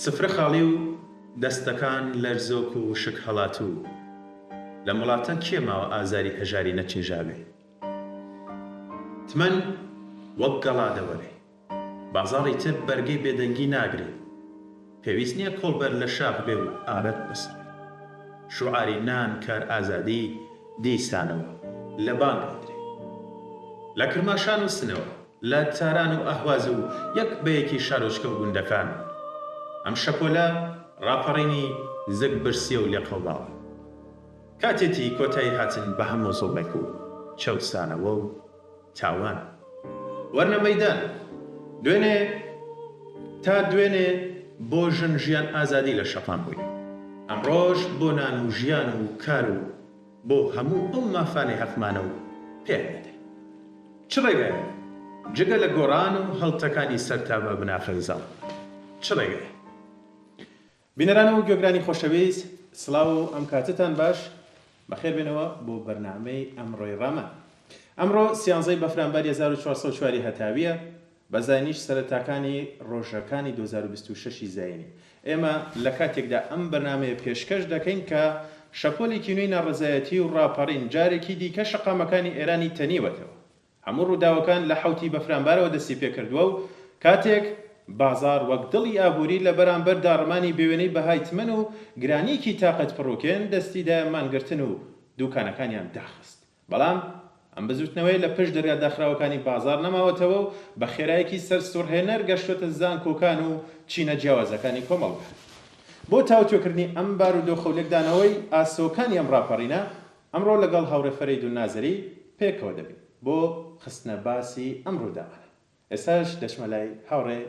سفرە خاڵی و دەستەکان لەرزۆک و وشک هەڵاتوو لەم وڵاتە کێ ماوە ئازاری هەژاری نەچێژاوێ تمەن وەک گەڵا دەوەرێ. بازاڕی تر بەرگەی بێدەنگی ناگرێت. پێویست نیە کۆڵبەر لە شاخ بێ و ئارەق بسڕێ. شوعاری نان کار ئازادی دیسانەوە لە بانگ ئەدرێ. لە کرماشان و سنەوە، لە تاران و ئەهواز و یەک بە یەکی شارۆچکە و گوندەکان، ئەم شەپۆلە ڕاپەڕینی زگ برسیە و لێقەوماوە. کاتێتی کۆتایی هاتن بە هەموو زوڵمێک و چەوسانەوە و. تاوان. وەرنە مەیدان. دوێنێ تا دوێنێ بۆ ژن ژیان ئازادی لە شەقام بووین. ئەمڕۆش بۆ نان و ژیان و کار و بۆ هەموو ئەو مافانەی هەقمانە و پێیان نەدەین. چ ڕێگایەک جگە لە گۆڕان و هەڵتەکانی سەر تا بە بناخەی زاڵ؟ چ ڕێگایەک؟ بینەران و گوێگرانی خۆشەویست سڵاو و ئەم کاتەتان باش بەخێر بێنەوە بۆ بەرنامەی ئەمڕۆی ڕامان ئەمڕۆ سیانزەی بەفرانباری هەزار و چوار سەد و چوار ی هەتاویە بە زاینیش سەرەتاکانی ڕۆژەکانی دوو هەزار و بیست و شەش ی زاینی ئێمە لە کاتێکدا ئەم بەرنامەیە پێشکەش دەکەین کە شەپۆلێکی نوێی ناڕەزایەتی و ڕاپەڕین جارێکی دیکە شەقامەکانی ئێرانی تەنیوەتەوە هەموو ڕووداوەکان لە حەوتی بەفرانبارەوە دەستی پێکردووە و کاتێک بازاڕ وەک دڵی ئابووری لە بەرانبەر داڕمانی بێوێنەی بەهای تمەن و گرانییەکی تاقەت پڕووکێن دەستی دایە مانگرتن و دووکانەکانیان داخست بەڵام ئەم بزووتنەوەیە لە پشت دەرگا داخراوەکانی بازاڕ نەماوەتەوە و بە خێرایەکی سەرسوڕهێنەر گەشتۆتە زانکۆکان و چینە جیاوازەکانی کۆمەڵگا. بۆ تاوتوێکردنی ئەم بارودۆخە و لێکدانەوەی ئاسۆکانی ئەم ڕاپەڕینە، ئەمڕۆ لەگەڵ هاوڕێ فەرەیدون نازری پێکەوە دەبین بۆ خستنە باسی ئەم ڕووداوانە. ئێستاش دەچمە لای هاوڕێ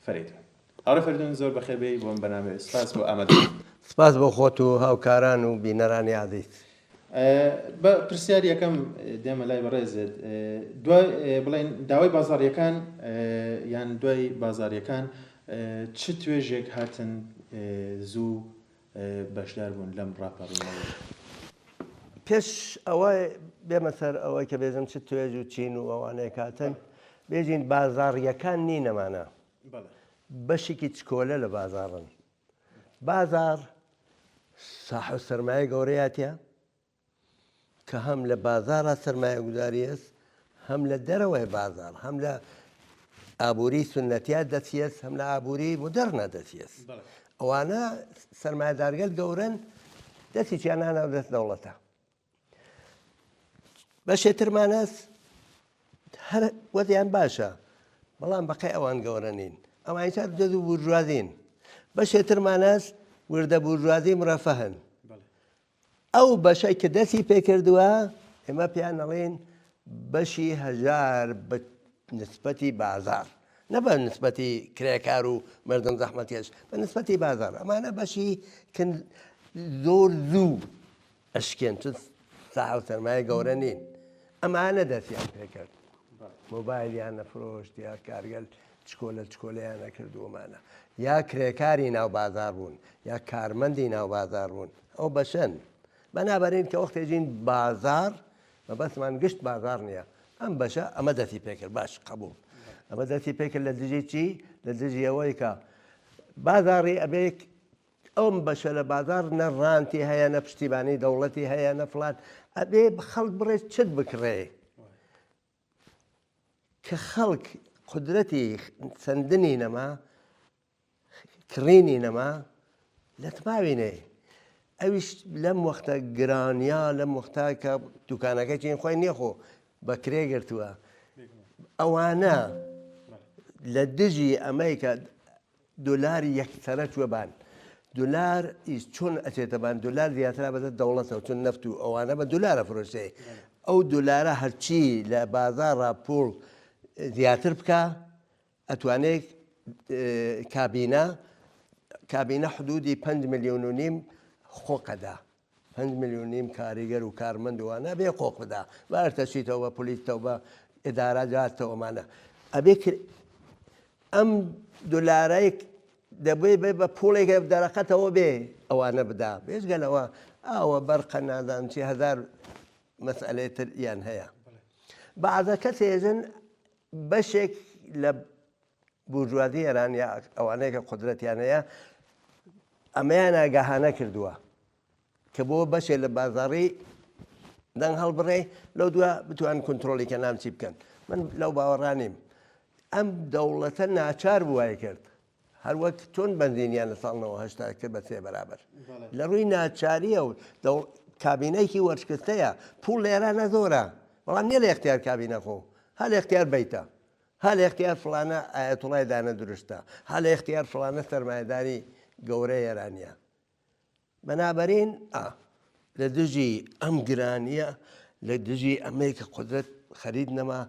فەرەیدون. هاوڕێ فەردون زۆر بەخێر بێی بۆم بەنامەیە سپاس بۆ ئامادەبوونت. سپاس بۆ خۆت و هاوکاران و بینەرانی ئازیز. بە پرسیاری یەکەم دێمە لای بەڕێزت دوای بڵێن داوای بازاڕیەکان یان دوای بازاریەکان چ توێژێک هاتن زوو بەشداربوون لەم ڕاپەڕینەوەیە. پێش ئەوەی بێمە سەر ئەوەی کە بێژم چ توێژ و چین و ئەوانەی کاتن بێژین بازاڕییەکان نین ئەمانە بەشێکی چکۆلە لە بازاڕن بازاڕ ساحەب سەرمایە گەورەیە تیا کە هەم لە بازارە سەرمایە گوزاریێت هەم لە دەرەوەی بازار هەم لە ئابووری سنەتیا دەچێت هەم لە ئابووری مدەرنا دەچێت ئەوانە سەرمایدارگەل گەورن دەستی چیانانە و دەست دەوڵەتە بەشێ ترمانەس هەر وەزیان باشە بەڵام بەقی ئەوان گەورە نین ئەوان تا دەز و بورژوازین بەشێ ترمانەس وردە بورژوازی مرەفەهن ئەو بەشەی کە دەستی پێکردووە ئێمە پێیان ئەڵێین بەشی هەژار بە نسبەتی بازاڕ نە بە نسبەتی کرێکار و مردم زەحمەتیش بە نسبەتی بازاڕ ئەمانە بەشی زۆر زوو ئەشکێن چ ساحە و سەرمایە گەورە نین ئەمانە دەستیان پێکرد مۆبایلیان نەفرۆشت یا کارگەل چکۆلە چکۆلەیان ئەکردوومانە یا کرێکاری ناو بازار بوون یا کارمەندی ناو بازار بوون ئەو بەشەن بەنابەرین کە وەختێجین بازار بە بەسمان گشت بازار نییە ئەم بەشە ئەمە دەستی پێکرد باش قبول ئەمە دەستی پێکرد لە دژی چی لە دژیەوەی کە بازاری ئەبێک ئەم بەشە لە بازار نە ڕانتی هەیە نە پشتیبانی دەوڵەتی هەیە نە فلات ئەبێ خەڵک بڕێ چت بکڕێ کە خەڵک قودرەتی سەندنی نەما کڕینی نەما لەتماوینەیە ئەویش لەم وەختە گرانیا لەم وەختا کە دوکانەکە چین خۆی نیەخۆ بە کرێ گرتووە ئەوانە لە دژی ئەمریکا دۆلار یەکسەرە چوە بان دۆلار ئیس چۆن ئەچێتە بان دۆلار زیاترا بەدەست دەوڵەتەوە چون نەفت و ئەوانە بە دۆلارە فرۆشێ ئەو دۆلارە هەرچی لە بازارا پوڵ زیاتر بکە ئەتوانێت کابینە کابینە حدودی پەنج ملیۆن و نیم خۆقەدا پەنج ملیون نیم کاریگەر و کارمەند و ئەنا بێ قۆق بدا با ئەرتە چیتەوە بە پلیس تەوە بە ئدارا جات تەوە مانە ئەبێ کر ئەم دلارای دەبێ بێ بە پوڵێک دەرەقەتەوە بێ ئەوانە بدا بێژگە لەوە ئاوە بەرقە نازان چی هزار مەسئلەی تر یان هەیە بەعزە کەسێژن بەشێک لە بورژوازی ئێران یا ئەوانەی کە قودرەتیان هەیە ئەمەیان ئاگاهانە کردووە کە بۆ بەشێ لە بازاڕی دەنگ هەڵبڕێ لەو دووە بتوان کنترۆلی کە نامچی بکەن من لەو باوەڕانیم ئەم دەوڵەتە ناچار بووای کرد هەر وەک چۆن بنزینیان لە ساڵنەوە هشتا کرد بە سێ بەرابەر لە ڕووی ناچاریە و کابینەیەکی وەرشکستەیە پوڵ لێرانە زۆرە بەڵام نیە لە اختیار کابینە خۆ هەل اختیار بیتە هە لە ئیختیار فڵانە ئایەتوڵای دانە درشتە، هە لە ئیختیار فڵانە سەرمایەداری گەورە ئێرانیە. بەنابەرین ئا. لە دژی ئەم گرانیە، لە دژی ئەمەی کە قودرەت خەرید نەما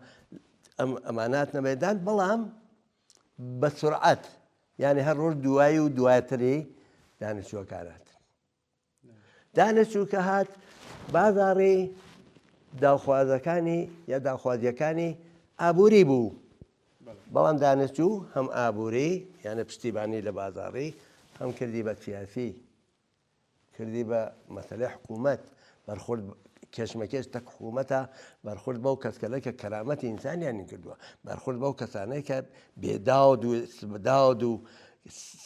ئەم ئەمانات نەمەدان بەڵام بە سرعەت یعنی هەر ڕۆژ دوایی و دواتری دانیشتوەکانات. دا لە چووکە هات بازاڕی داوخوازەکانی یا داخوازیەکانی ئابووری بوو بەڵام دانشجو هەم ئابووری یانە پشتیبانی لە بازاڕی هەم کردی بە سیاسی کردی بە مەسلەی حکوومەت بەرخورد کێشمەکێش تەک حکوومەتە بەرخورد بەو کەسکەلە کە کەرامەتی ئینسانیانی کردووە بەرخورد بەو کەسانەی کە بێداود و سبداود و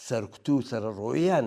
سەرکوت و سەرڕۆیان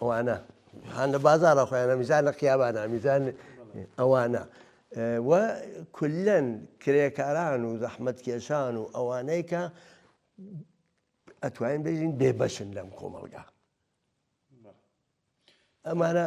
ئەوانە هان لە بازارە خۆیانە میزان لە قیابانە میزان ئەوانە و کلەن کرێکاران و زەحمت کێشان و ئەوانەی کە ئەتوانین بژین بێبەشن لەم کۆمەلگا ئەمانە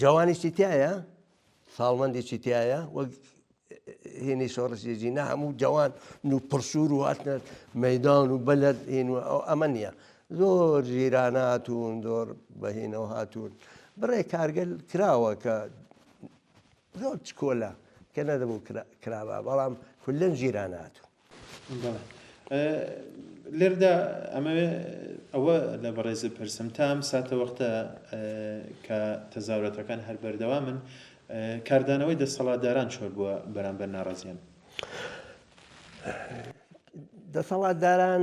جوانیشی تایە ساڵمەندێکی تایە وەک هێنی شۆڕشێژی نە هەموو جوان و پرسوور و هاتنە مەدان و بەلەر هێن و ئەو ئەمە نیە زۆر ژیرانە هاتوون زۆر بەهێنەوە هاتوون بڕێ کارگەل کراوە کە زۆر چکۆلە کە نەدەبوو کرابا بەڵام کولەن ژیراناتون لێرەدا ئەمەوێ ئەوە لە بەڕێز بپرسم تا ئەم ساتە وەختە کە تەزاوراتەکان هەر بەردەوامن کاردانەوەی دەسەڵاتداران چۆن بووە بەرامبەر ناڕازیان؟ دەسەڵاتداران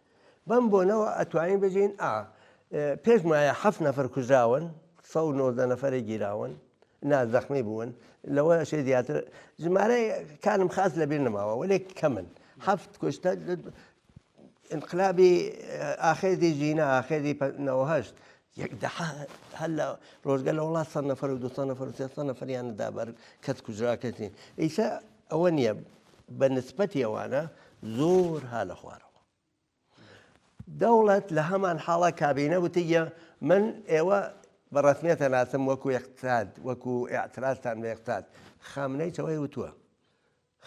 بەم بۆنەوە ئەتوانین بژین ئا پێش مایە حەف نەفر کوژراون سە نۆزدە نەفری گیراون نا زەخمی بوون لەوە شێ زیاتر ژمارەی کانم خاس لەبیر نماوە وەێک کەمن هەفت کوشتە انقلابی ئاخێزی ژینە ئاخێزی نەوەهشت یەک دەحە هەر لە ڕۆژگە لە وڵات سەد نەفەر و دو سەد نەفەر و سێ سەد نەفەریان دا بەر کەس کوژرا کەس نین ئیسە ئەوە نییە بە نسبەتی ئەوانە زۆر ها لە خوارەوە دەوڵەت لە هەمان حاڵە کابینە وتیە من ئێوە بە ڕەسمیەتە ناسم وەکو یەقتاد وەکو ئاعتراستان بە یەقتاد خامنەی چەوەی وتووە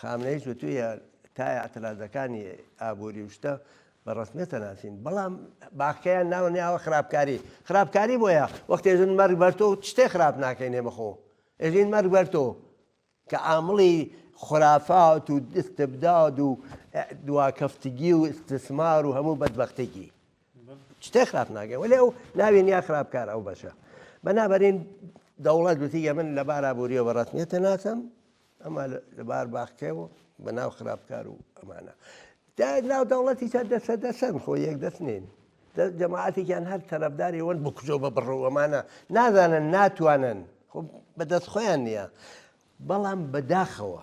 خامنەییش وتویە تا ئیعترازەکانی ئابوری و شتە بە ڕەسمیەت دەناسین بەڵام باخکەیان ناوە ناوە خراپکاری خراپکاری بۆیە وەخت ئێژن مەرگ بەر تۆ شتێ خراپ ناکەینێ بەخۆ ئێژین مەرگ بەر تۆ کە ئامڵی خرافات و استبداد و دواکەفتگی و استثمار و هەموو بەدبەختێکی شتێ خراپ ناگەن وەلێ ئەو ناوێن یا خراپکار ئەو بەشە بەنابەرین دەوڵەت گوتیگە من لە بارا بوریەوە ڕەتنیێتە ناسم ئەمە لە بار باخچەیە و بە ناو خراپکار و ئەمانە دا ناو دەوڵەتی چە دەسە دەسەن خۆ یەک دەست نین جەماعاتێکیان هەر تەرەفداری وەن بکوژۆ بە بڕەوەمانە نازانن ناتوانن خۆ بەدەست خۆیان نییە بەڵام بەداخەوە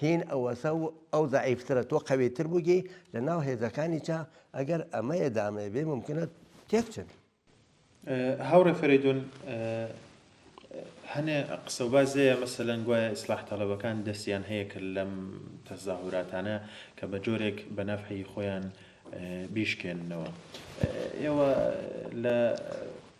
هین ئەوەسە و ئەو زەعیفترە تۆ قەویتر بووگی لە ناو هێزەکانیچە ئەگەر ئەمە ئێدامەیە بێ مومکنە تێک چن. هاوڕێ فەرەیدون هەنێ قسە و باس لێیە مەسەلەن گوایە ئیسلاح تەڵەبەکان دەستیان هەیە کە لەم تەزاهوراتانە کە بە جۆرێک بە نەفعی خۆیان بیشکێننەوە ئێوە لە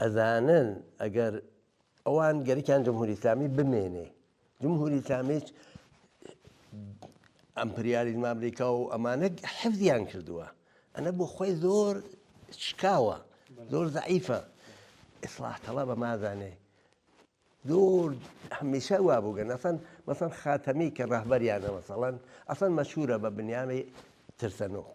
ئەزانن ئەگەر ئەوان گەرکیان جمهوری ئیسلامی بمێنێ جمهوری ئیسلامیش ئەمپریالیزم ئەمریکا و ئەمانە حەفزیان کردووە ئەنە بۆ خۆی زۆر شکاوە زۆر زعیفە ئیسلاح تەڵە بە مازانێ زۆر هەمیشە وا بووگە نەسەن مەسەن خاتەمی کە ڕهبەریانە مەسەڵەن ئەسەن مەشهورە بە بنیامەی ترسەنۆک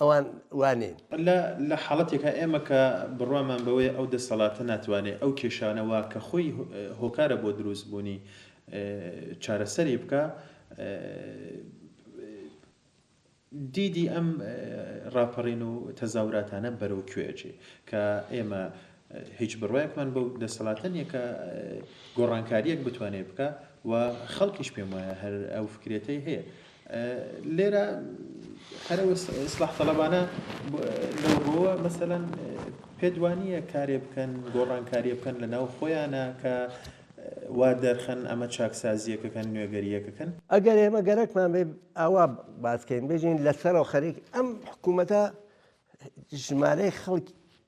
ئەوان وا نین. لە لە حاڵەتێکا ئێمە کە بڕوامان بەوەیە ئەو دەسەڵاتە ناتوانێ ئەو کێشانە وا کە خۆی هۆکارە بۆ دروست بوونی چارەسەری بکا دیدی ئەم ڕاپەڕین و تەزاوراتانە بەرەو کوێ ئەچێ کە ئێمە هیچ بڕوایەکمان بەو دەسەڵاتە نیە کە گۆڕانکاریەک بتوانێت بکا و خەڵکیش پێم وایە هەر ئەو فکرەتەی هەیە لێرە هەر ئیسلاح تەڵەبانە لەوەوە مەسەەن پێدوانیە کارێ بکەن گۆڕانکاریە بکەن لە ناو خۆیانە کە وا دەرخەن ئەمە چاکسازیەکەکەن نوێگەریەکەکەن ئەگەر ئێمە گەرەکمان بێ ئاوا باسکەین بێژین لەسەرەوە خەریک ئەم حکوومەتە ژمارەی خەڵک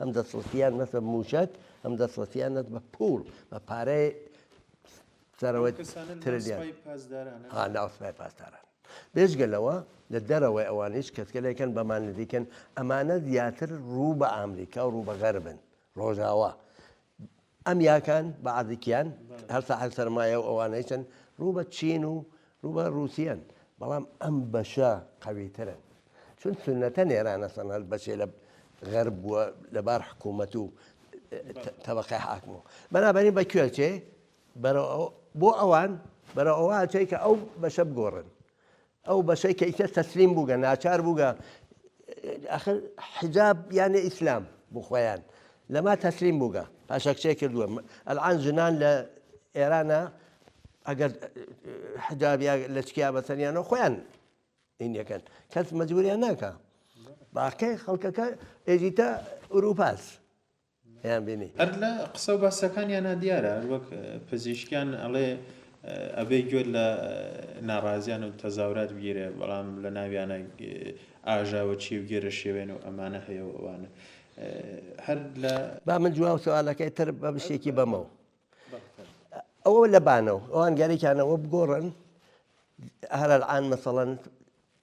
هەم دەسڕەسیان نەت بە مووشەک هەم دەسڕەسیان نەت بە پووڵ بە پارەی سەرەوەی ترلیان ها ناو سپای پاسداران بێجگە لەوە لە دەرەوەی ئەوانیش کەسکەلێکن بەمان نزیکن ئەمانە زیاتر ڕوو بە ئامریکا و ڕوو بە غەربن ڕۆژاوا ئەم یاکان بە عەزیکیان هەر ساحەب سەرمایە و ئەوانەیشن ڕوو بە چین و ڕوو بە ڕووسیەن بەڵام ئەم بەشە قەویترن چون سنەتە نێرانە سەن هەر بەشێ لە غەرب بووە لەبار حکوومەت و تەبقی حاکم و بەنابەرین بە کوێچێ بەرەوە بۆ ئەوان بەرە ئەوە چیکە ئەو بەشە بگۆڕن ئەو بەشەی کە ئیتر تەسلیم بووگە ناچار بووگە ئاخر حیجاب یانێ ئیسلام بۆ خۆیان لەما تەسلیم بووگە پاشەکچێ کردووە ئەلعان ژنان لە ئێرانە ئەگەر حجاب یا لە چکیا بەسەریانەوە خۆیان ئینەکەن کەس مەجبوریان ناکە باقی خەڵکەکە ئێزیتە ئوروپاس بینی. هەر لە قسە و باسەکانیانا دیارە هەر وەک پزیشکیان ئەڵێ ئەبێ گوێت لە ناڕازیان و تەزاورات بگیرێ بەڵام لە ناویانا ئاژاوەچی و گێرەشێوێن و ئەمانە هەیە و ئەوانە هەر لە با من جواب سوالەکەی تر بە بشێکی بەمەوە ئەوە لە بانەوە ئەوان گەرەکیانەوە بگۆڕن هەر الان مثلا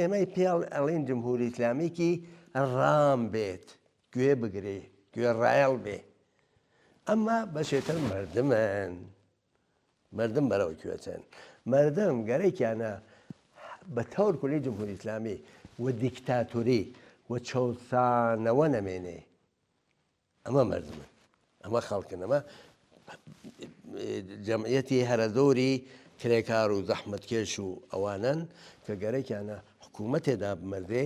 ئێمەی پێڵ ئەڵێن جمهوری ئیسلامیکی ڕام بێت گوێ بگرێ گوێ ڕایەڵ بێ ئەمما بەشێتر مردمن مردم بەرەوە کوێچن مردم گەرەێکیانە بە تەور کولی جمهوری ئیسلامی و دیکتاتوری و چەسانەوە نەمێنێ ئەمە مردمن ئەمە خەڵکن ئەمە جەمعەتی هەرە زۆری کرێکار و زەحمتکێش و ئەوانن کە گەرەکیانە حکوومەتێدا بمەردێ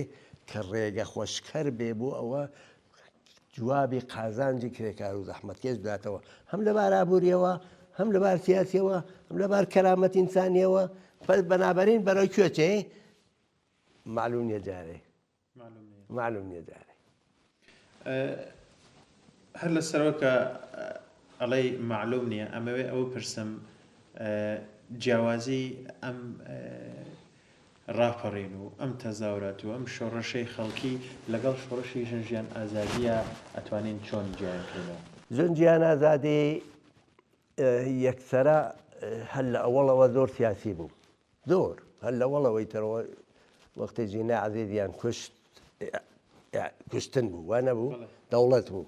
کە ڕێگە خۆشکەر بێ بۆ ئەوە جوابی قازانجی کرێکار و زەحمتکێش بداتەوە هەم لە بارابووریەوە هەم لە بار سیاسیەوە هەم لە بار کەرامەت ئینسانیەوە بەنابەرین بەرەو کوێچێ معلوم نیە جارێ مەعلوم نیە دارێ. هەر لە سەرەوە کە ئەڵێی مەعلوم نیە ئەمەوێ ئەوە پرسم جیاوازی ئەم ڕاپەڕین و ئەم تەزاورات و ئەم شۆڕەشەی خەڵکی لەگەڵ شۆڕشی ژن ژیان ئازادیە ئەتوانین چۆن جیان کردەوە ژن جیان ئازادی یەکسرە هەر لە ئەوەڵەوە زۆر سیاسی بوو زۆر هەر لە وەڵەوەی تەرەوە وەختێ جینا عەزێزیان کوشت کوشتن بوو وا نەبوو دەوڵەت بوو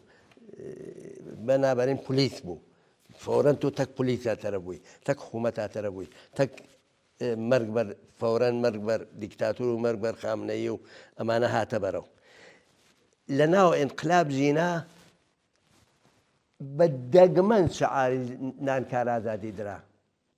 بەنابەرین پلیس بوو فۆرەن تۆ تەک پلیسا تەرە بووی تەک حکوومەتا تەرە بووی تەک مەرگ بەر فۆرەن مەرگ بەر دیکتاتور و مەرگ بەر خامنەیە و ئەمانە هاتە بەرەو لە ناو ئینقلاب ژینا بە دەگمەن شعاری نانکارازادی درا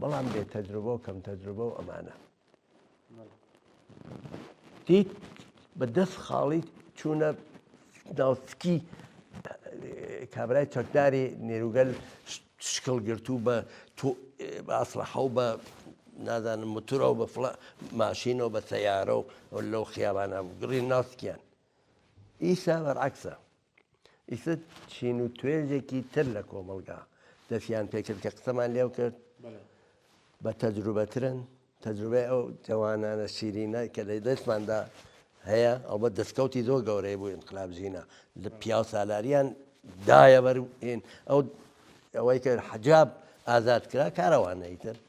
بەڵام بێ تەجروبە و کەم تەجروبە و ئەمانە دیت بە دەست خاڵی چوونە ناوسکی کابرای چەکداری نێروگەل شکڵ گرت و بە ئاسرەحە و بە نازانم متورە و بە فڵ ماشینەوە بە سەیارە و لەو خیابانە گڕی ناسکیان ئیسا بەرعکسە ئیتر چین و توێژێکی تر لە کۆمەڵگا دەستیان پێکرد کە قسەمان لێو کرد بە تەجروبەترن تەجروبەی ئەو جەوانانە شیرینە کە لە دەستماندا هەیە ئەوبە دەستکەوتی زۆر گەورەی بوو انقلاب ژینە لە پیاو سالاریان دایە بەرین ئەو ئەوەی کە حجاب ئازاد کرا کارەوانەیتر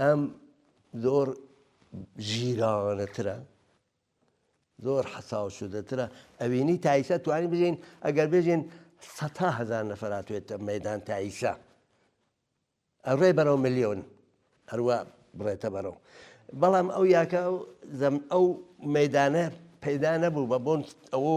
ئەم زۆر ژیرانەترە زۆر حەساو شدەترە ئەوینی تایسە توانی بژین ئەگەر بژین سەتا هزار نەفراتێتە مەدان تایسە ئەڕێ بەرەو میلیۆن هەروە بڕێتە بەرەو بەڵام ئەو یاکە زەم ئەو مەدانە پەیدا نەبوو بە بۆن ئەوە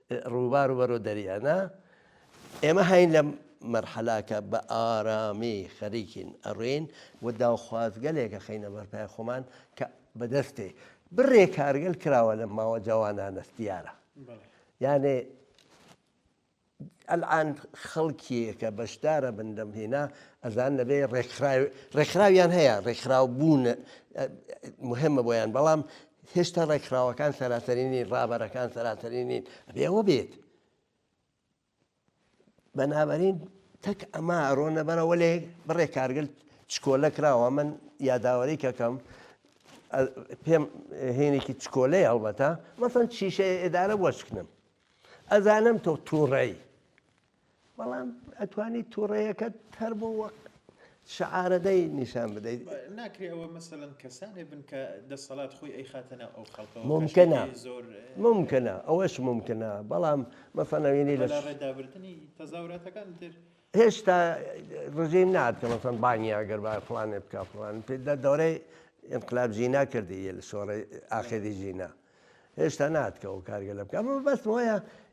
ڕووبار و بەرەو دەریا نا ئێمە هاین لەم مەرحەلاکە بە ئارامی خەریکین ئەڕێین و داوخوازگەلێکە خینە بەرپای خۆمان کە بەدەستێ بڕێ کارگەل کراوە لە ماوە جوانانەست دیارە یانێ ئەلان خەڵکیەکە بەشدارە بن لەم هێنا ئەزان لەبێ ڕێکخراویان هەیە ڕێکخراو بوون مهمە بۆیان بەڵام هێشتا ڕێکخراوەکان سەراسەری نین ڕابەرەکان سەراسەری نین ئەبێ ئەوە بێت بەنابەرین تەک ئەمە ئەرۆنە بەرەوە لێ بڕێ کارگل چکۆلە کراوە من یاداوەری کەکەم پێم هێنێکی چکۆلەی هەڵبەتە مەسەن شیشە ئێدارە وەشکنم ئەزانم تۆ تووڕی بەڵام ئەتوانی تووڕەیەکە تەر بۆ وەک شعارەدەی نیشان بدەیت ناکرێ ئەوە مەسەن کەسانێ بن کە دەسەڵات خۆی ئەی خاتەنە ئەو خەڵکە ممکنە زۆر ممکنە ئەوەش ممکنە بەڵام مەسەنەوینی لە ڕێدابردننی تەزاوراتەکان تر هێشتا ڕژیم نات کە مەسەن بانیا گەر با فلانێ بکە فلان پێ لە دەورەی انقلاب ژینا کردی لە شۆڕی ئاخری ژینا هێشتا ناتکەەوە کارگە لە بکە بەس وایە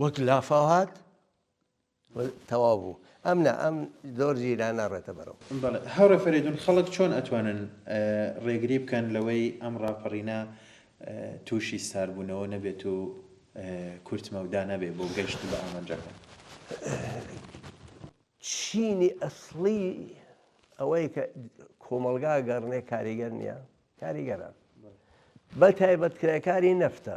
وەک لافاو هات و تەواو بوو. ئەم نا ئەم زۆر زیرا ناڕێتە بەرەو. بەڵێ هاوڕێ فەرەیدون خەڵک چۆن ئەتوانن ڕێگری بکەن لەوەی ئەم ڕاپەڕینە تووشی ساربوونەوە نەبێت و کورت مەودا نەبێت بۆ گەشت بە ئامانجەکان؟ چینی ئەسڵی ئەوەی کە کۆمەڵگا گەڕنێ کاریگەر نییە کاریگەرە بە تایبەت کرێکاری نەفتە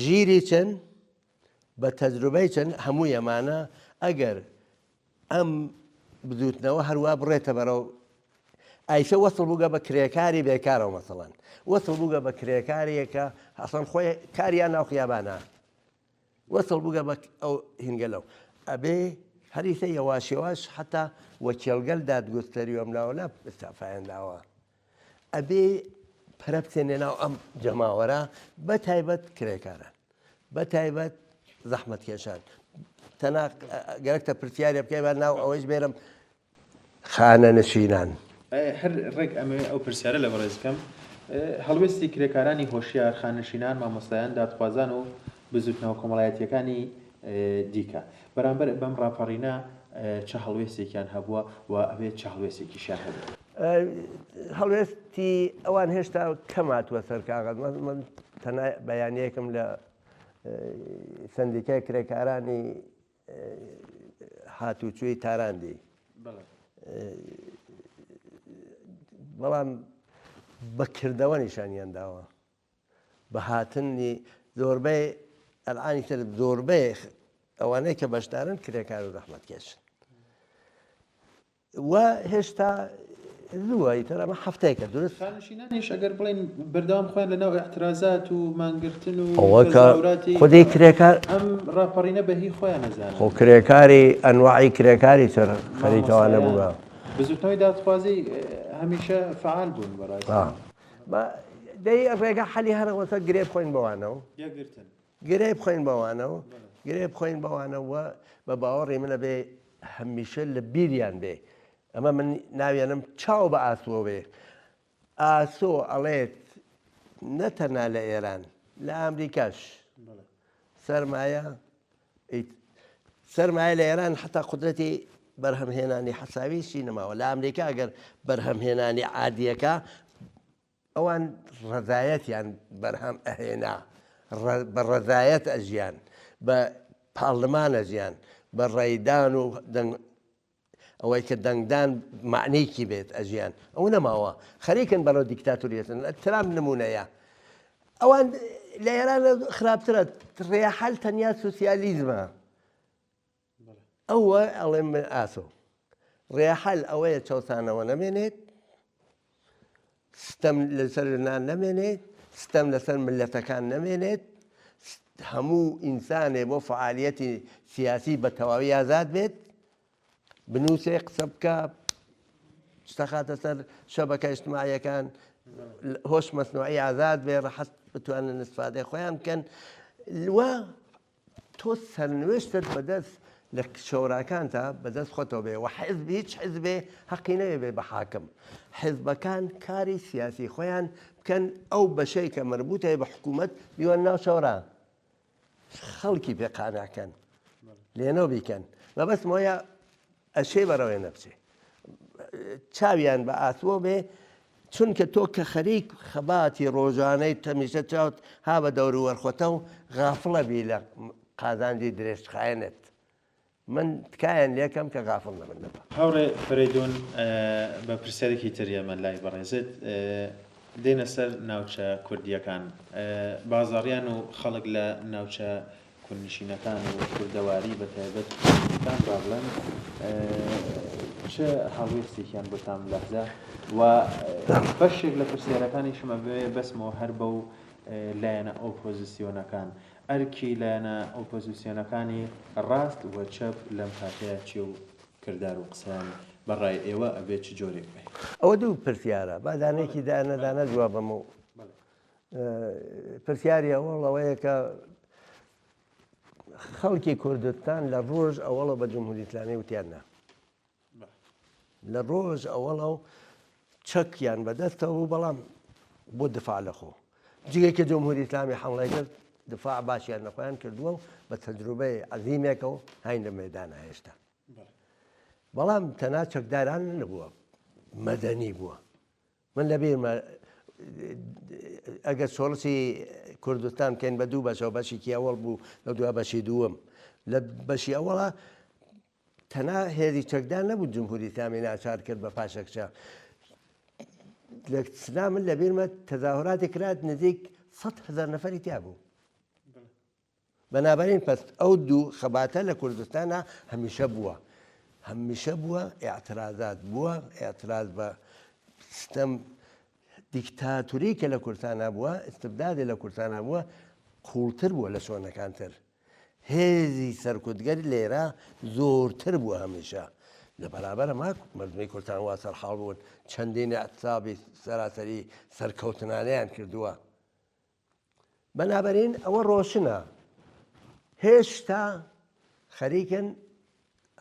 ژیری چن بە تەجروبەی چن هەمووی ئەمانە ئەگەر ئەم بدوتنەوە هەروە بڕێتە بەرەو ئایشە وەسڵ بووگە بە کرێکاری بێکارەوە مەسەڵەن وەسڵ بووگە بە کرێکاریەکە ئەسڵەن خۆی کاریان ناو خیابانە وەسڵ بگە بە ئەو هینگەلەو ئەبێ هەریسە یەواش یەواش حتا وە کێڵگەل داد گوستەری وەم ناوە نا ئستافایان داوە ئەبێ پەرە بچێنێ ناو ئەم جەماوەرە بە تایبەت کرێکاران بە تایبەت زەحمەتکێشان تەناق گەرەکتە پرسیارێ بکەی بە ناو ئەوەیش بێرم خانەنشینان. هەر ڕێک ئەمەوێ ئەو پرسیارە لە بەڕێز بکەم، هەڵوێستی کرێکارانی هۆشیار، خانەنشینان، مامۆستایان، دادخوازان و بزووتنەوە کۆمەڵایەتییەکانی دیکە بەرامبەر بەم ڕاپەڕینە چ هەڵوێستێکیان هەبووە و ئەبێت چ هەڵوێستێکیشیان هەبێت؟ هەڵوێستی ئەوان هێشتا کەم هاتووە سەر کاغەز. من تەنیا بەیانییەکم لە سەندیکای کرێکارانی هاتوچۆی تاران دێی بەڵام بە کردەوە نیشانیان داوە بە هاتنی زۆربەی ئەلانی تر زۆربەی ئەوانەی کە بەشدارن کرێکار و زەحمەتکێشن و هێشتا زووە ئیتر ئەمە هەفتەیەکە دروست شانشینانیش ئەگەر بڵێن بەردەوام خۆیان لەناو ئیعترازات و مانگرتن و ئەوە کە تەزاوراتی خودی کرێکار ئەم ڕاپەڕینە بە هی خۆیان نەزانن خۆ کرێکاری ئەنواعی کرێکاری تر خەریکەوە نەبووە مامۆستایان بزوتنەوەی دادخوازی هەمیشە فعال بوون بەڕاستی آه. با دەی ڕێگا حەلی هەرەوەتە گرێ بخۆین بەوانەوە یەکگرتن گرێ بخۆین بەوانەوە گرێ بخۆین بەوانەوە بە باوەڕی منە بێ هەمیشە لە بیریان بێ ئەمە من ناوێنم چاو بە ئاسۆ بێ ئاسۆ ئەڵێت نەتەنها لە ئێران لە ئامریکاش سەرمایە سەرمایە لە ئێران حتا قدرەتی بەرهەمهێنانی حەساویشی نەماوە لە ئامریکا گەر بەرهەمهێنانی عادیەکە ئەوان ڕەزایەتیان بەرهەم ئەهێنا، بە ڕەزایەت ئەژیان، بە پارلمان ئەژیان، بە ڕێدان و دەنگ ئەوەی کە دەنگدان مەعنەیەکی بێت ئەژیان، ئەوە نەماوە، خەریکن بەرەو دیکتاتۆریەت دەچن، ترامپ نموونەیە. ئەوان لە ئێران خراپترە، ڕێحل تەنیا سۆسیالیزمە. ئەوە ئەڵێم من ئاسۆم. ڕێحل ئەوەیە چەوسانەوە نەمێنێت، ستەم لەسەر ژنان نەمێنێت، ستەم لەسەر ملەتەکان نەمێنێت، هەموو ئینسانێ بۆ فعالیەتی سیاسی بە تەواوی ئازاد بێت، بنووسێ قسە بکە، شتە خاتە سەر شەبەکە ئیجتماعیەکان، هۆش مەسنوعی ئازاد بێ، ڕەحەت بتوانن ئیستفادەی خۆیان بکەن و تۆ سەرنوێشتت بەدەست لە کچەوراکانتا بەدەست خۆتەوە بێ وە حیزب هیچ حیزبێ هەقی نەوێ بێ بە حاکم حیزبەکان کاری سیاسی خۆیان بکەن ئەو بەشەی کە مربوتە بە حکوومەت بیوان ناو چاورا خەڵکی پێ قاناکەن لێنەوە بیکەن مەبەست مۆیە ئەچێ بەڕەوێ نەبچێ چاویان بە ئاسۆ بێ چونکە تۆ کە خەریک خەباتی ڕۆژانەی تەمیشە چاوت ها بە دەوروەرخۆتە و غافڵە بی لە قازانجی درێژخایەنت من تکایان لەکەم کە غافڵ نەبن لەبە هاوڕێ فەرەیدون بە پرسیارێکی تر ئێمە لای بەڕێزت دێنە سەر ناوچە کوردییەکان بازاڕیان و خەڵک لە ناوچە کوردنشینەکان و کوردەواری بە تایبەت کوردستان با بڵێم چ هەڵوێستێکیان بۆ تام لەحزە و بەشێک لە پرسیارەکانیشم ئەبێ بەسمەوە هەر بە و لایەنە ئۆپۆزیسیۆنەکان ئەرکی لایەنە ئۆپۆزیسیۆنەکانی ڕاست و چەپ لەم کاتەیە چێ و کردار و قسەیان بەڕای ئێوە ئەبێ چ جۆرێک بێ؟ ئەوە دوو پرسیارە با دانەیەکی دانە دانە جواب بەمە و. پرسیاری ئەوەڵ ئەوەیە کە خەڵکی کوردستان لە ڕۆژ ئەوەڵە بە جمهوری ئسلامی وتیان نا لە ڕۆژ ئەوەڵە و چەکیان بەدەستەوە بوو بەڵام بۆ دفاع لە خۆ جگە کە جمهوری ئسلامی حمڵای کرد دفاع باشیان نەخۆیان کردووە و بە تەجروبەی عزیمێکە و هاین لە مەدان هێشتا بەڵام تەنا چەکداران نەبووە مەدەنی بووە من لە بیرمە ئەگەر چۆڵسی کوردستان بکەین بە دوو بەشەوە بەشێکی ئەوەڵ بوو لە دوا بەشی دووەم لە بەشی ئەوەڵە تەنا هێزی چەکدان نەبوو جمهوری تامی ناچار کرد بە پاشەکچە لە سنا من لە بیرمە تەزاهراتی کرات نزیک 100 هزار نەفری تیا بوو بەنابەرین پس ئەو دوو خەباتە لە کوردستانا هەمیشە بووە هەمیشە بووە ئیعترازات بووە ئیعتراز بە ستەم دیکتاتوری کە لە کورتانا بووە استبدادی لە کورتانا بووە قوڵتر بووە لە شۆنەکان تر هێزی سەرکوتگەری لێرە زۆرتر بووە هەمیشە لە بەرابەرە ماک مردمی کورتان وا سەرحاڵ بوون چەندین ئەتابی سەراسەری سەرکەوتنانیان کردووە بەنابەرین ئەوە ڕۆشنە هێشتا خەریکن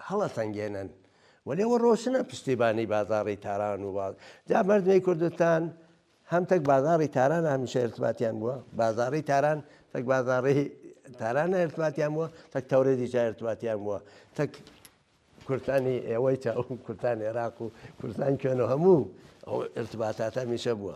هەڵە سەنگێنن وەێوە ڕۆشنە پشتیبانی بازاری تاران و باز جا مردمی کوردستان هەم تەک بازاری تاران هەمیشە ارتباتیان بووە بازاری تاران تەک بازاری تاران ارتباتیان بووە تەک تەورە دیجا ارتباتیان بووە تەک کورتانی ئێوەی تا کورتان عێراق و کورتان کوێن و هەموو ئەو ارتباتاتە میشە بووە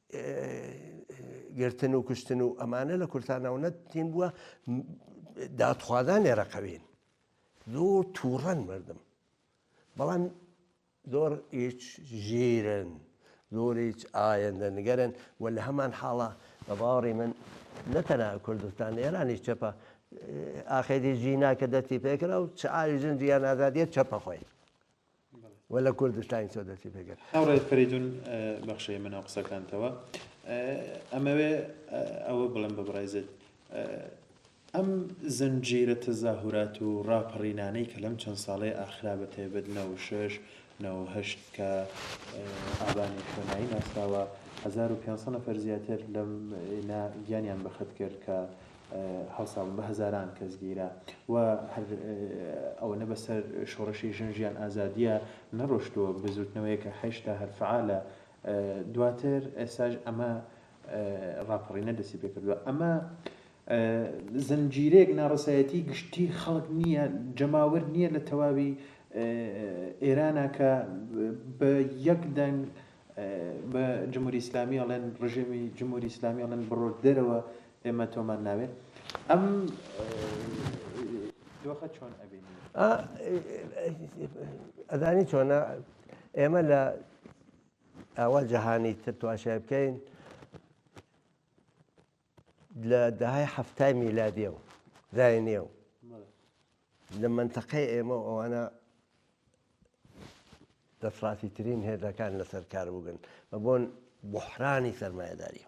گرتن و کوشتن و ئەمانە لە کورتانەوە نەتین بووە دادخوازان لێرەقەوین زۆر تووڕەن مردم بەڵام زۆر هیچ ژیرن زۆر هیچ ئاەندە نگەرن و لە هەمان حاڵە بە باوەڕی من نەتەنە کوردستان ئێرانی چەپە ئاخێری ژینا کە دەستی پێکرا و چ ئاوی ژن جیان ئازادیە چەپە خۆی و لە کوردستانی تۆ دەستی پێ کرد. هاوڕێ فەریدون بەخش ئێمە ناو قسەکانتەوە ئەمەوێ ئەوە بڵێم بە بڕێزت ئەم زنجیرە تەزاهورات و ڕاپەڕینانەی کە لەم چەند ساڵەی ئاخرا بە تایبەت نەوە و شەش نەوە و هەشت کە ئابانی شوێنایی ناسراوە هەزار و پێنج سەد نەفەر زیاتر لەم نا گیانیان بەخت کرد کە هەڵسابوون بە هەزاران کەس گیرا و هەر ئەوەنە بەسەر شۆڕشی ژن ژیان ئازادیە نەڕۆشتووە بزوتنەوەیەکە هەشتا هەر فەعالە دواتر ئێساش ئەمە ڕاپەڕینە دەسی پێکردووە ئەمە زنجیرەیەک ناڕەسایەتی گشتی خەڵک نییە جەماوەر نییە لە تەواوی ئێرانە کە بە یەک دەنگ بە جمهوری ئیسلامی ئەڵێن ڕژێمی جمهوری ئیسلامی ئەڵێن بڕۆ دەرەوە ئێمە تۆمان ناوێ ئەم دۆخە چۆن ئەبینی ئەزانی چۆنە ئێمە لە ئاوا جەهانی تر تواشای بکەین لە دەهای هەفتای میلادیە و زایە و لە منتەقەی ئێمە ئەوانە دەسڕاتی ترین هێزەکان لەسەر کار بگەن بە بۆن بحرانی سەرمایهداریە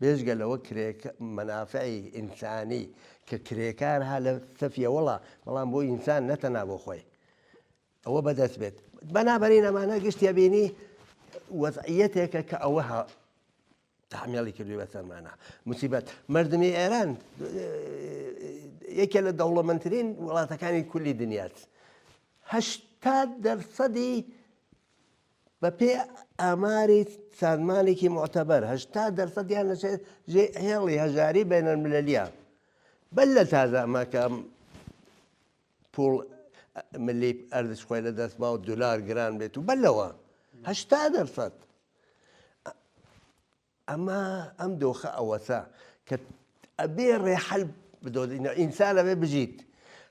بێجگە لەوە کرێک مەنافعی ئینسانی کە کرێکار ها لە سەفیە وەڵا بەڵام بۆ ئینسان نەتەنا بۆ خۆی ئەوە بەدەست بێت بەنابەرین ئەمانە گشتە بینی وەزعەتێکە کە ئەوە تحمیێڵی کردوی بەسەرمانە مسیبەت مردمی ئێران یەکێ لە دەوڵەمەندترین وڵاتەکانی کولی دنیاات هەشتا دەرسەدی بەپێی ئاماری سازمانێکی موعتەبەر، هەشتا دەرسەدیان دەچێت ژێ هێڵی هەژاری بەینەلمللیە، بەر لە تازە ئەمە کە پوڵ ملی ئەرزش خۆی لە دەست باو دلار گران بێت و بەر لەوە هەشتا دەرسەد ئەمە ئەم دۆخە ئەوەسا کە ئەبێ ڕێحل بدۆزینە ئینسان ئەبێ بژیت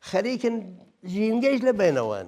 خەریکن ژینگەیش لە بینەوەن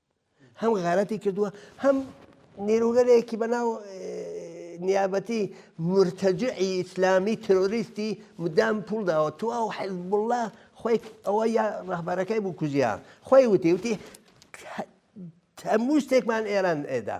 هەم غارەتی کردووە هەم نیروگەلێکی بەناو نیابەتی مرتەجعی ئیسلامی ترۆریستی مدام پول داوە تو ئەو حزب الله خۆی ئەوە یا ڕەهبەرەکەی بوو کوژیان خۆی وتی وتی هەموو شتێکمان ئێران ئێدا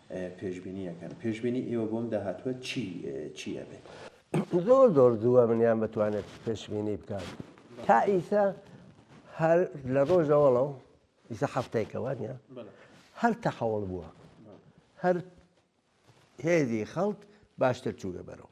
پێشبینی ئەکەن پێشبینی ئێوە بۆم داهاتوە چی چی ئەبێت؟ زۆر زۆر زووە منیان بتوانێت پێشبینی بکات تا ئیسا هەر لە ڕۆژەوەڵە و ئیسا هەفتەیەکەوە نیە هەر تەحەوڵ بووە هەر هێزی خەڵک باشتر چووگە بەرەوە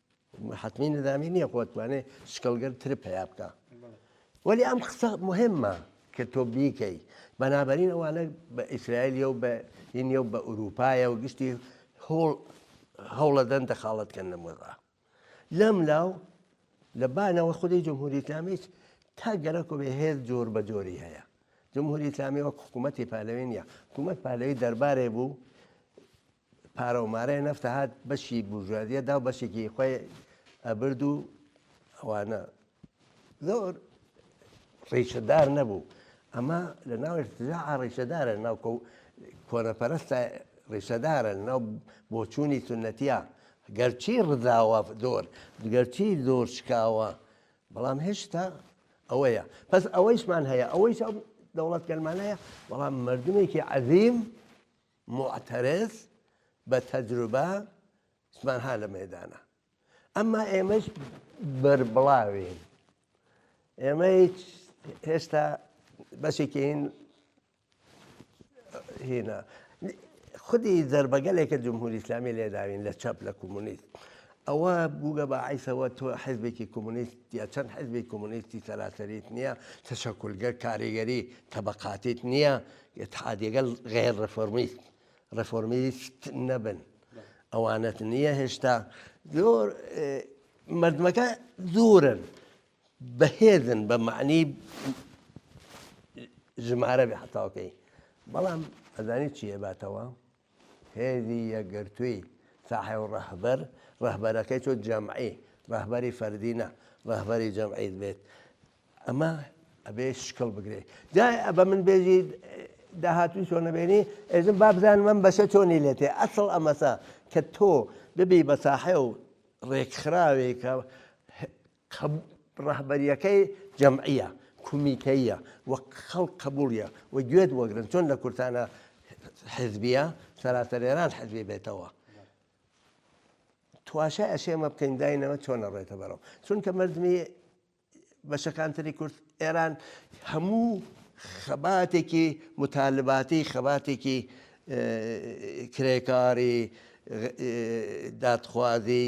حەتمی نظامی نییە خۆ توانێ شکڵگەر تر پیا بکە وەلی ئەم قسە مهمە کە تۆ بیکەی بەنابەرین ئەوانە بە ئیسرائیلیە و بە هینە و بە ئوروپایە و گشتی هۆڵ هەوڵەدەن دەخاڵەتکەن لە مۆزا لەم لاو لە بانەوە خودی جمهوری ئسلامیش تا گەرەکۆ بێ هێز جۆر بە جۆری هەیە جمهوری ئسلامی وەک حکوومەتی پالەوێنە حکوومەت پالەوی دەربارێ بوو پارەو مارەی نەفت هات بەشی بورژوازیە داو بەشێکی خۆی ئەبرد و ئەوانە زۆر ڕیشەدار نەبوو ئەمە لە ناو ارتجاع ڕیشەدارە ناو کۆنەپەرستە ڕیشەدارە ناو بۆچوونی سنەتیا گەرچی ڕزاوە زۆر گەرچی زۆر شکاوە بەڵام هێشتا ئەوەیە پس ئەوەیشمان هەیە ئەوەیش دەوڵەت گەلمانەیە بەڵام مردمێکی عەزیم موعتەرز بە تەجروبە سمان ها لە مەیدانە ئەمما ئێمەش بەربڵاوین ئێمە هیچ هێشتا بەشێکین هینا خودی زربەگەلێکە جمهوری ئسلامی لێداوین لە چەپ لە کۆمونیست ئەوە بووگە بە عیسەوە تۆ حزبێکی کۆمونیست یا چەند حزبی کۆمونیستی سەراسەریت نییە تەشەکولگە کاریگەری تەبقاتیت نییە اتحادیەگەل غیر رفۆرمیست رفۆرمیست نەبن ئەوانەت نییە هێشتا زۆر مردمەکە زۆرن بەهێزن بە معنی ژمارە بێ حتاوکەی بەڵام ئەزانی چیە باتەوە هێزی یەکگرتووی، ساحێو ڕەهبەر، ڕەهبەرەکەی چۆن جەمعی، ڕەهبەری فەردی نا، ڕەهبەری جەمعی بێت، ئەمە ئەبێ شکڵ بگرێ. جا بە من بێژی داهاتووی چۆن نەبێنی، ئێژم با بزانم ئەم بەشە چۆنی لێ تێ. ئەسڵ ئەمەسە کە تۆ ببی بە ساحێو ڕێکخراوێک کە کە ڕەهبەرییەکەی جەمعییە، کومیتەییە و خەڵک قەبووڵییە و گوێت وەگرن، چۆن لە کورتانە حیزبییە، سەراسەر ئێران حیزبی بێتەوە. تواشای ئەشێ ئەمە بکەین داینەوە چۆن ئەڕۆێتە بەرەو. چونکە مەردمی بەشەکان تری کورد ئێران هەموو خەباتێکی متالباتی خەباتێکی کرێکاری دادخوازی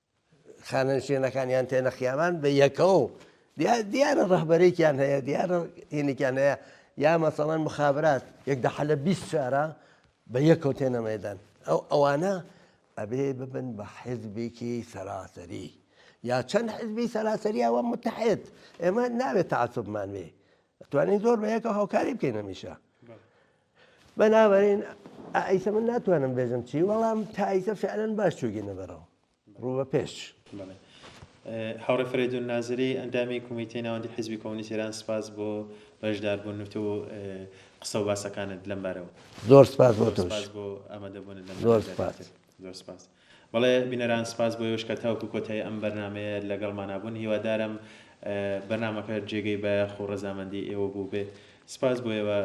خانەنشێنەکانیان تێنە خیابان بە یەکەوە و دیارە ڕەهبەرێکیان هەیە دیارە هینێکیان هەیە یا مەسەڵەن مخابرات یەک دە حەلە بیست شارە بە یەکەوە تێنە مەدان ئەو ئەوانە ئەبێ ببن بە حزبێکی سەراسەری یا چەند حزبی سەراسەریەوە متحێت ئێمە ناوێت تعسبمان وێ توانین زۆر بە یەکە هاوکاری بکەینەمیشە بەنابەرین ئایسە من ناتوانم بێژم چی وەڵام تایسە فعلەن باش چوگینە بەرەوە ڕووە پێش هاوڕێ فرەیدون نازری ئەندامی کومیتەی ناوەندی حزبی کۆمونیست ئێران سپاس بۆ بەشداربوون و قسە و باسەکانت لەم بارەوە زۆر سپاس بۆ تۆش زۆر سپاس زۆر سپاس. بەڵێ بینەران سپاس بۆ ئێوەش کە تاوەکو کۆتایی ئەم بەرنامەیە لەگەڵمانا بوون هیوادارم بەرنامەکە جێگەی بایەخ و ڕەزامەندی ئێوە بووبێت سپاس بۆ ئێوە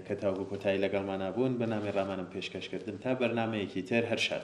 کە تاوەکو کۆتایی لەگەڵمانا بوون بەنامی ڕامانم پێشکەش کردن تا بەرنامەیەکی تر هەر شاد